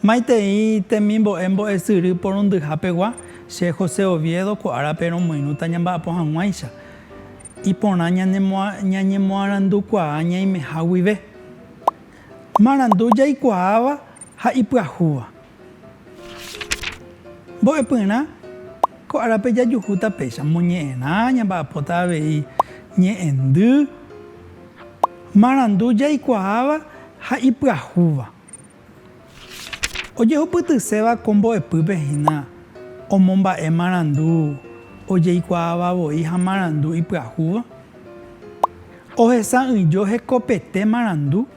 Maitei temimbo'e mbo'esyry porundyha pegua, che José Oviedo ko árape romoirũta ñamba'apo hag̃uáicha. Iporã ñañemoarandukuaa ñaimeha guive. Marandu jaikuaáva ha ipyahúva. Mbo'epyrã Ko árape jajuhúta péicha moñe'ẽrã, ñamba'apóta avei ñe'ẽndy. Marandu jaikuaáva ha ipyahúva. Ojehupytyséva ko mbo'epýpe hína omomba'e marandu ojeikuaáva voi ha marandu ipyahúva. Ohesa'ỹijo hekopete marandu.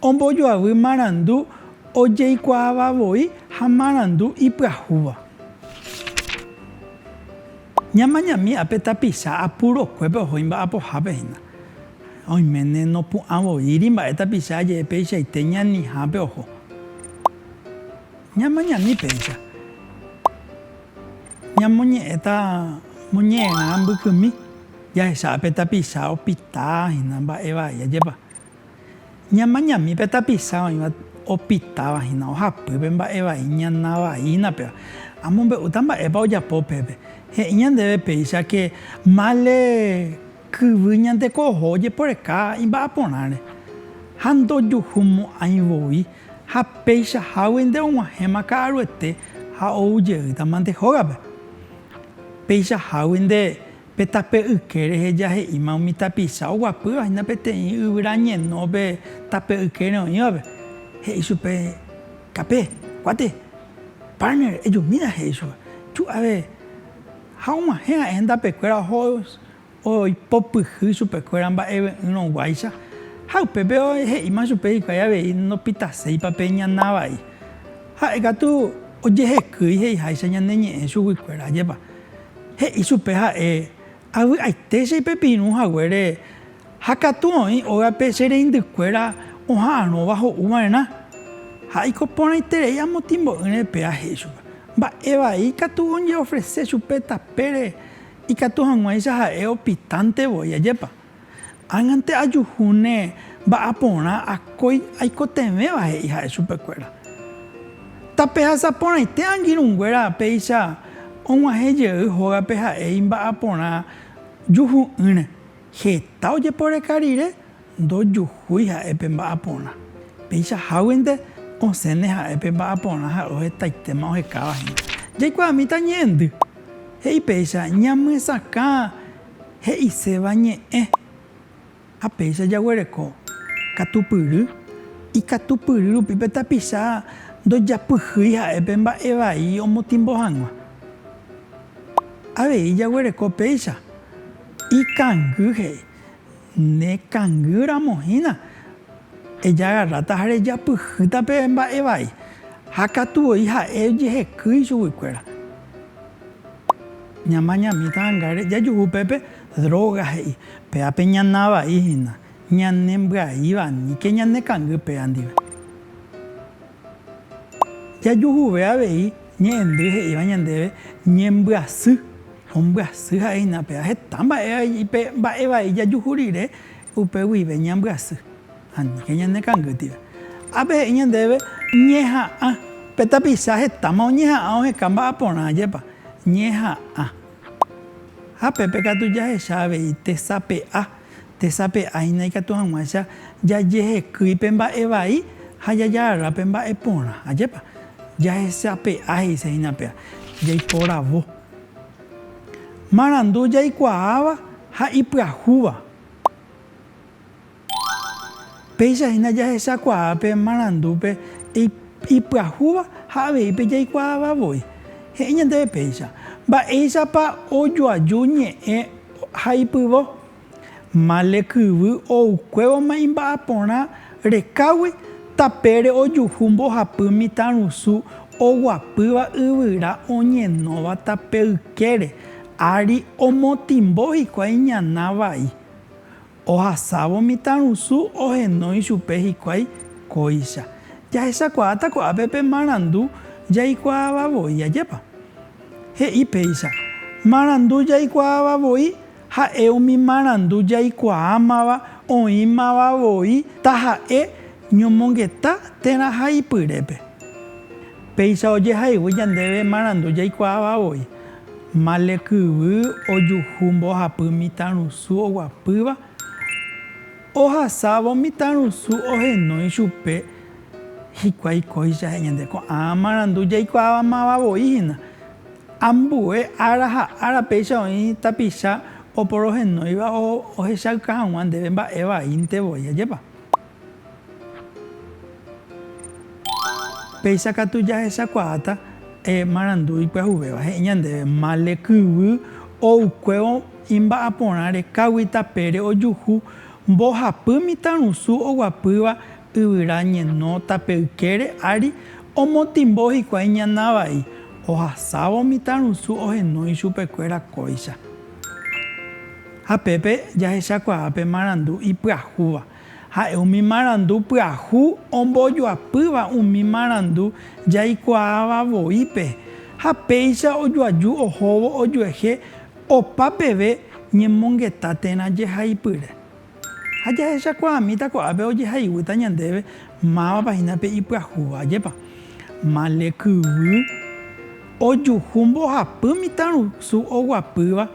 Ombojoavy marandu ojeikuaáva voi ha marandu ipyahúva. Ñamañami ápe tapicha apurokuépe oho imba'apohápe hína. Oiméne nopu'ã voíri mba'e tapicha aje'e peichaite ñanihápe oho. Ñamañami péicha. Ñamoñe'ẽta moñe'ẽrã mbykymi jahecha pe tapicha opita hína mba'e vai ajépa. Ñamañami pe tapicha oĩva opitava hína ohapy pe mba'e vai ñana vaína péva. Amombe'úta mba'épa ojapo pépe. He'i ñandéve péicha ke mále Kyvy ñande ko'oho ojeporeka imba'aporãre, ha ndojuhumo'ãi voi, ha peichahágui nde og̃uahẽma ka'aruete ha ou jeýta mante hógape. Peichahágui nde pe tape yke rehe jahe'íma umi tapicha oguapýva hína peteĩ yvyra ñeno pe tape ykére oĩvape, he'i chupe, Kape, kuáte, partner, ejumína, he'i chupe. Ju'ave ha og̃uahẽ ha'e hendapekuéra oho. oipopyhy chupekuéra mba'eve'ỹrõ guáicha, ha upépe he'íma chupe hikuái avei ndopitaséipa pe ñana vai. Ha'e katu ojehekýi he'iháicha ñane ñe'ẽ chuguikuéra, ajépa? He'i chupe ha'e, Avy'aite che ipepirũ haguére, ha katu oĩ ógape che reindykuéra oha'arõva ho'u va'erã. Ha eiko porãiterei amo timbo'ỹre pea he'i chupe, mba'e vai katu oje'ofrese chupe tapére. Ikatu hag̃uáicha ha'e opitánte voi, ajépa? Ág̃ante ajuhúne va'a porã akói aikotevẽva, he'i ha'e chupekuéra. Tapehasa porãite angirũnguéra péicha og̃uahẽ jey hógape ha'e imba'aporã juhu'ỹre, heta ojeporeka rire Ndojuhúi ha'e pe mba'aporã. Péicha háguinte osẽne ha'e pe mba'aporã ha ohetaitéma ohekáva hénte. Jaikuaamíta ñe'ẽndy. He'i péicha ñamyesakã he'iséva ñe'ẽ. Ha péicha jaguereko katupyry. Ikatupyry rupi pe tapicha ndojapyhýi ha'e pe mba'e vai omotimbo hag̃ua. Avei jaguereko péicha ikangy he'i. Ne kangy ramo hína, ejagarráta ha rejapyhýta pe mba'e vai, ha katu voi ha'e ojeheky ichugui kuéra. Ñamañamíta hanga jajuhu upépe droga he'i, péva pe ñana vai hína, ñane mbyaíva aníke ñane kangy péva ndive. Jajuhuve avei Ñe'ẽndy he'íva ñandéve ñembyasy. Ombyasy ha'eína pe aheta mba'e pe mba'e vai jajuhu rire upe guive ñambyasy. Aníke ñane kangýtire. Ápe he'i ñandéve ñeha'ã. Pe tapicha hetáma oñeha'ã oheka mba'a porã jepa. Ñeha'ã. Ha pépe katu jahecha avei tesape'a. Tesape'a hína ikatu hag̃uáicha jajehekýi pe mba'e vai ha jajarara pe mba'e porã. Ajépa. Jahechape'a he'ise hína péva. Jaiporavo. Marandu jaikuaáva ha ipyahúva. Péicha hína jahechakuaa pe marandúpe ipyahúva ha avei pe jaikuaáva voi. He'i ñandéve péicha, Mba'éichapa ojoaju ñe'ẽ ha ipyvo? Male kyvy oukuévoma imba'aporã rekágui tapére ojuhu mbohapy mitãrusu oguapýva yvyra oñenóva tape ykére, ári omotĩmbo hikuái ñana vai. Ohasávo mitãrusu ohenói ichupe hikuái kóicha. Jahechakuaáta ko'ápe pe marandu jaikuaava voi, ajépa? He'i péicha, Marandu jaikuaava voi Ha'e umi marandu jaikuaámava oĩmava voi taha'e ñomongeta térã ha ipyrépe. Péicha ojehaygui ñandéve marandu jaikuaáva voi, male kyvy, ojuhu mbohapy mitãrusu oguapýva, ohasávo mitãrusu ohenói chupe hikuái kóicha he'i ñande, ko'ã marandu jaikuaámava voi hína. Ambue ára ha ára péicha oĩ tapicha oporohenóiva ohechauka hag̃ua ndéve mba'e vaínte voi. Ajépa! Péicha katu jahechakuaáta marandu ipyahuvéva. He'i ñandéve, Male kyvy oukuévo imba'aporãre káguita pére ojuhu mbohapy mitãrusu oguapýva Yvyra ñenóta pe ykére ári omotĩmbo hikuái ñana vai, ohasávo mitãrusu ohenói ichupekuéra kóicha. Ha pépe jahechakuaa pe marandu ipyahúva. Ha'e umi marandu pyahu ombojoapýva umi marandu jaikuaáva voípe, ha péicha ojoaju ohóvo ojuehe opa peve ñemongeta térã jehaipyre. Ha jahechakuaamíta ko'ápe ojehayhúta ñandéve mávapa hína pe ipyahúva. Ajépa male kyvy ojuhu mbohapy mitãrusu oguapýva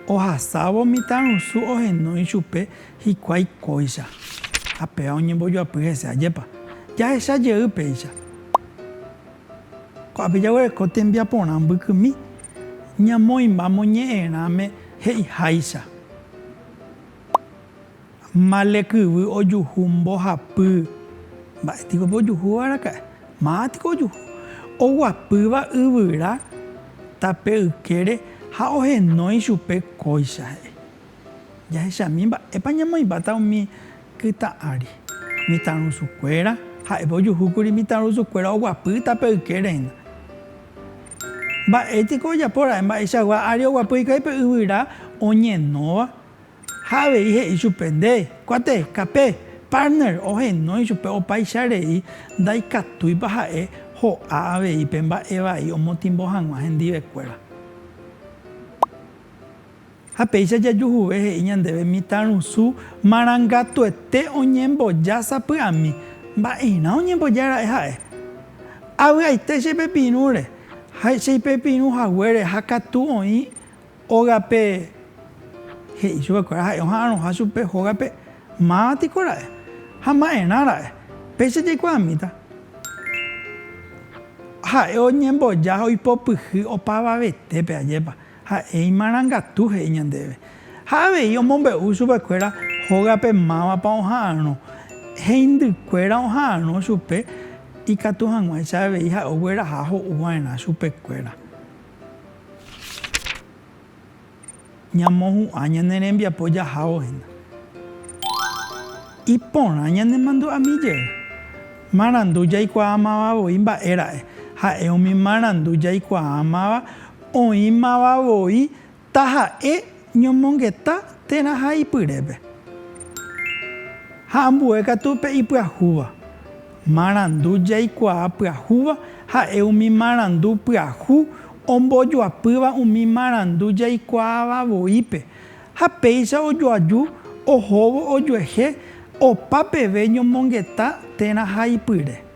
ohasávo mitãrusu ohendu ichupe hikuái kóicha ha péva oñembojoapy hese. Ajépa jahecha jey péicha. Ko'ápe jaguereko tembiaporã mbykymi ñamoĩmba moñe'ẽrãme he'iháicha, Male kyvy ojuhu mbohapy. Mba'e piko pe ojuhúva araka'e? Máva piko ojuhu. Oguapýva yvyra tape ykére ha ohenói chupe kóicha he'i. Jahechami mba'épa ñamoĩmbáta umi kytã ári. Mitãrusukuéra, Ha'épa ojuhúkuri mitãrusukuéra oguapy tape ykérehina. Mba'e piko ojapo ra'e mba'eichagua ári oguapy hikuái pe yvyra oñenóva? Ha avei he'i chupe, Nde kuate, kape, partner, ohenói chupe opaicha rei ndaikatúipa ha'e ho'a avei pe mba'e vai omotimbo hag̃ua hendivekuéra. Ha péicha jajuhuve he'i ñandéve mitãrusu marangatuete oñemboja sapy'ami. Mba'erã oñemboja ra'e ha'e? Avy'aite che pepirũre, ha che ipepirũ haguére ha katu oĩ ógape he'i chupe kuéra ha'e oha'arõha chupe hógape, máva tiko ra'e? Ha mba'erã ra'e? Péicha jaikuaamíta ha'e oñemboja ha oipopyhy opavavetépe, ajépa. Ha'e imarangatu he'i ñandéve. Ha avei omombe'u chupekuéra hógape mávapa oha'arõ. Heindykuéra oha'arõ chupe ikatu hag̃uáicha avei ha'e ogueraha ho'u va'erã chupekuéra. Ñamohu'ã ñane rembiapo jahávo hína. Iporã ñanemandu'ami jey. Marandu jaikuaamava voi mba'e ra'e. Ha'e umi marandu jaikuaamáva Oĩmava voi taha'e ñomongeta térã ha ipyrépe. Ha ambue katu pe ipyahúva. Marandu jaikuaa pyahúva ha'e umi marandu pyahu ombojoapýva umi marandu jaikuaáva voípe, ha péicha ojoaju ohóvo ojuehe opa peve ñomongeta térã ha ipyre.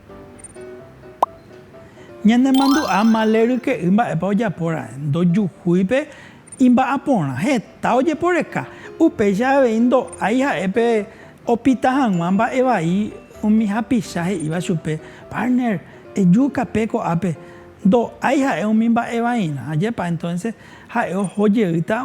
Ñanemandu'a male ryke'y mba'épa ojapo raẽ, ndojuhúi pe imba'aporã, heta ojeporeka, upéicha avei ndo'ái ha'e pe opita hag̃ua mba'e vai umi hapicha he'íva chupe, Partner, ejuka pe ko'ápe, ndo'ái ha'e umi mba'e vairã, ajépa entonces ha'e oho jeýta